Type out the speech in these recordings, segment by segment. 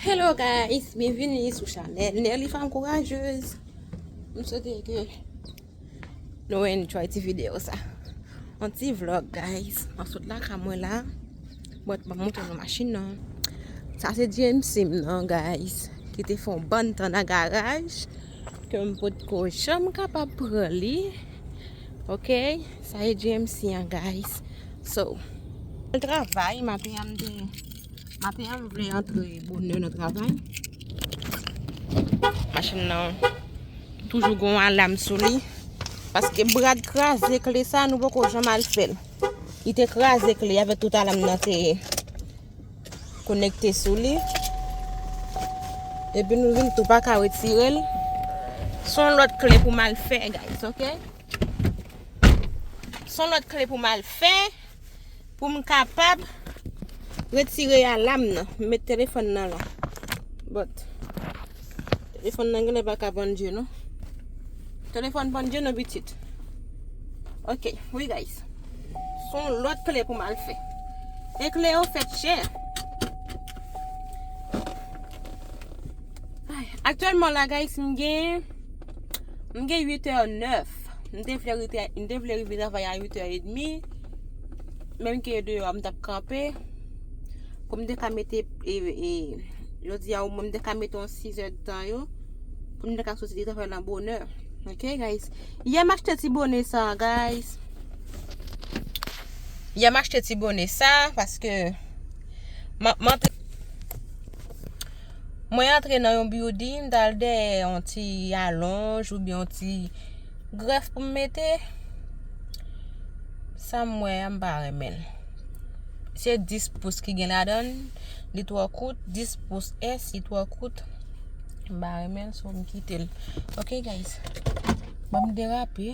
Hello guys, bienvenue sou chanel Nerly Femme Courageuse M sote ke nou enjoy ti video sa An ti vlog guys, an sot la ka mwen la Mwen t ban mwen te nan machin nan Sa se GMC m nan guys Ki te fon ban tan nan garaj Ke m pot ko janm kapab pran li. Ok. Sa e GMC an guys. So. Al travay maten an m te. Maten an m vle antre bonè nan travay. Machin nan. Toujou gon alam sou li. Paske brad kraze kle sa nou poko janm al fel. Li te kraze kle avek tout alam nan te. Konekte sou li. Epi nou vin tou pa ka retire l. Son lòt kle pou mal fè guys ok. Son lòt kle pou mal fè. Pou m kapab retire alam nan. M met telefon nan la. Bòt. Telefòn nan genlè pa ka pran dye non. Telefòn pran dye non pitit. Ok, oui guys. Son lòt kle pou mal fè. E kle yo fèt chè. Aktyèlman la guys m gen m gen 8 è 9. M te vle rete, m te vle rive travay a 8 è et demi. Menm ke deyò a m tap kanpe. Pou m te ka mete, e, e, yo di a ou mwen m te ka mete yon 6 èd tan yo, pou m te ka soti li te fè nan bonè. Ok, guys. Yè m achte ti bone sa, guys. Yè m achte ti bone sa, paske, m ap, m ap. Mwen antre nan yon building, m tal dèyè yon ti alonj ou byen yon ti grèf pou m mete. Sa m wè a m pa renmen. Se 10 pous ki gen ladan, li twò kout, 10 pous S li twò kout. M pa renmen so m kite l. Ok guys, banm derape.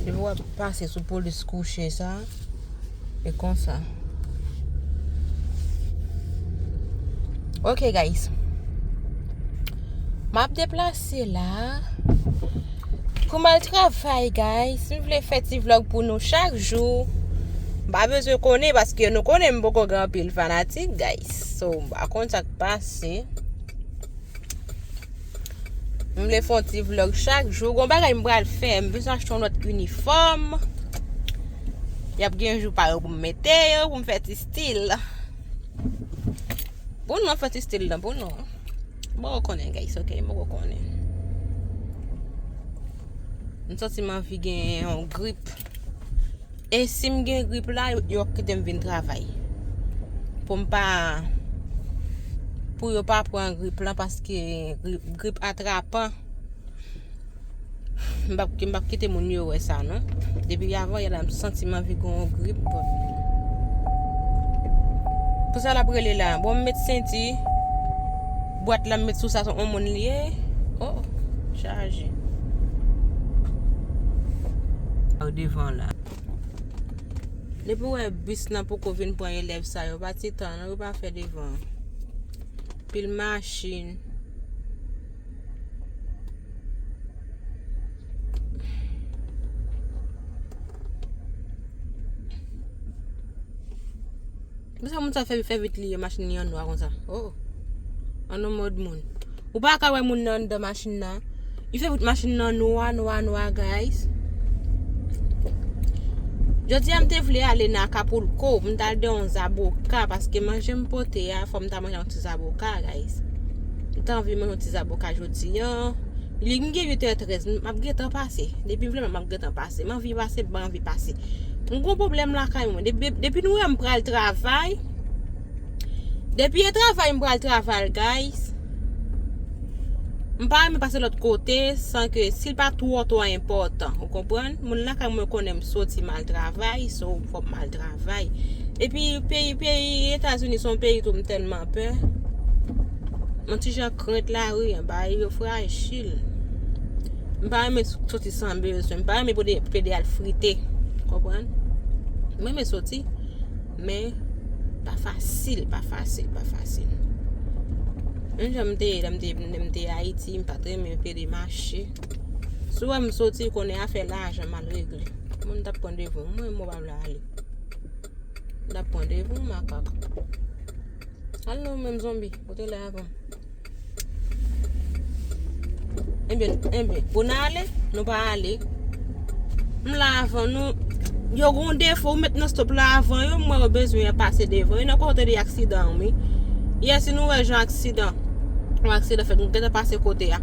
Depi wap pase sou polis kouche sa e konsa Ok guys Map deplase la Pou mal travay guys M vle fè ti vlog pou nou chak jou M pa bezwen konnen paske nou konnen m poko gen anpil fanatik guys So m pa konn sak pase M vle fè yon ti vlog chak jou. Gon bagay m pral fè. M bezwen achte yon lòt inifòm. Y ap gen jou pa yo pou m mete yo, pou m fè ti stil. Pou nou an fè ti stil nan pou nou. M poko konnen guys ok, m poko konnen. M santi m anvi gen yon grip. E sim gen grip la yo ap kitem vin travay. Poum pa pou yo pa pran grip lan paske grip atrapan. Mbap mbap kite moun yo wè sa non. Depi avan yèm santi m anvi gon grip. Pou sa la prele la. Bon met senti. Bwat la m met sou sa son on moun li ye oh chaje. Ou devan la. Depi ou wè bus nan poko vin pran elèv sa yo pa ti tan non yo pa fè devan. Pil machin. Pou sa moun sa fè fè vit li yo machin li an nwa konsa. Oh. An nou mod moun. Ou pa ka wè moun nan andan machin nan. Li fè vit machin nan nwa nwa nwa guys. Jodi a m te vle ale nan Acapulco, m ta al de yon zaboka paske manje m pote a fò m ta manje yon ti zaboka guys. M ta anvi manje yon ti zaboka jodi an. Li m gen 8h13, m ap gen tan pase. Depi m vle m ap gen tan pase. M anvi pase, m pa anvi pase. Mwen gon problem lakay mwen. Depi nou wè m pral travay. Depi e travay m pral travay guys. M pa renmen pase lot kote san ke si l pa two two enpotan. Ou konprann? Moun lakay mwen konnen m soti mal travay. So fok m al travay. Epi peyi peyi etazini son peyi tou m telman pè. Yon ti jan krent lari an. Bagay yo frajil. M pa renmen soti san bezwen. M pa renmen pou pede al frite. Konprann? M renmen soti, men pa fasil, pa fasil, pa fasil. Menm jan m te ye, lè m te Ayiti, m pat renmen pede mache. Si w wè m soti, konnen afè lajan m al regle. Mwen m tap pran devon m, mwen m wap la ale. M tap pran devon m, makak. Al non menm zonbi, ou te la avan m. Enbyen, enbyen, pou nan ale, nou pa ale. M la avan nou. Yo gon defo, ou met nan stop la avan yo, mwen yo bezwen yon pase devan. Yon nan kon tande aksidan ou mi. Yè si nou wè jan aksidan, yon aksidan fèt, nou gentan pase kote ya.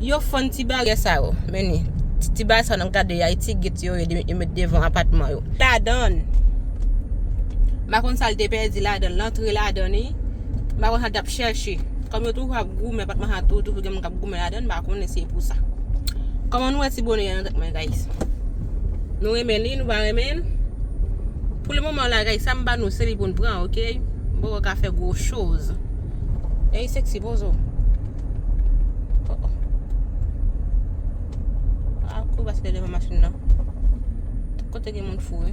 Yo fann ti bagè sa yo, meni. Ti bagè sa yo nan gade ya, yon ti git yo, yon met devan apatman yo. Ladan, bakon sa l te pè di ladan, lantre ladan ni. M pa konn sa l t ap chèche. Kòm yo toujou ap goumen pat maha tou toujou gen moun k ap goumen ladan l m pa konnen si e pou sa. Kòman nou wè ti bone a nan tèt mwen guys? Nou renmen li nou pa renmen l? Pou le moman la guys sa m ba nou se li pou n pran ok. M poko ka fè gwo choz. Ey sexy poze w. Kote gen moun fou wi.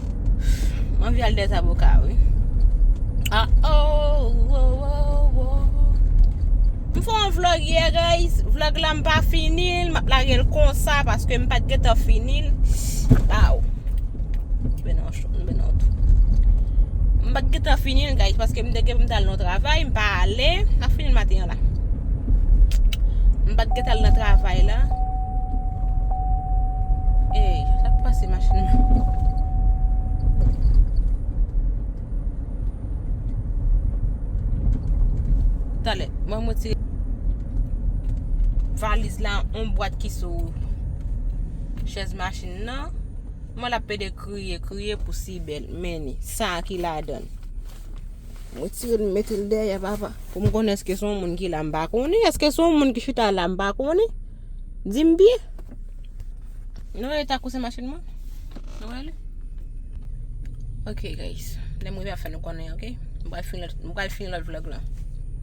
M anvi al dèzaboka wi A oh oh oh oh M fè yon vlog yè guys Vlog la m pa fini l M ap lage l konsa paske m pat gentan fini l A oh M pat gentan fini l guys paske m te gen pou m t al nan yon travay m pa ale M pa fini l maten an la M pat gentan al nan travay la Eyy, sa k pase machin nan? Talè, mwen m retire valiz la on bwat ki sou chèz machin nan. Mwen la pede kriye, kriye pou si bel. Men ni, sa a ki la dan. Mwen tire l, mete l dèyè papa. Pou m konnen eske son moun ki la m pa konnen, eske son moun ki chita la m pa konnen. Di m byen. Nou wè eta kousen machin mwen? Nou wè li? Ok guys, lè m rive ap fè nou konnen ok. M pral fini lòt vlog lan.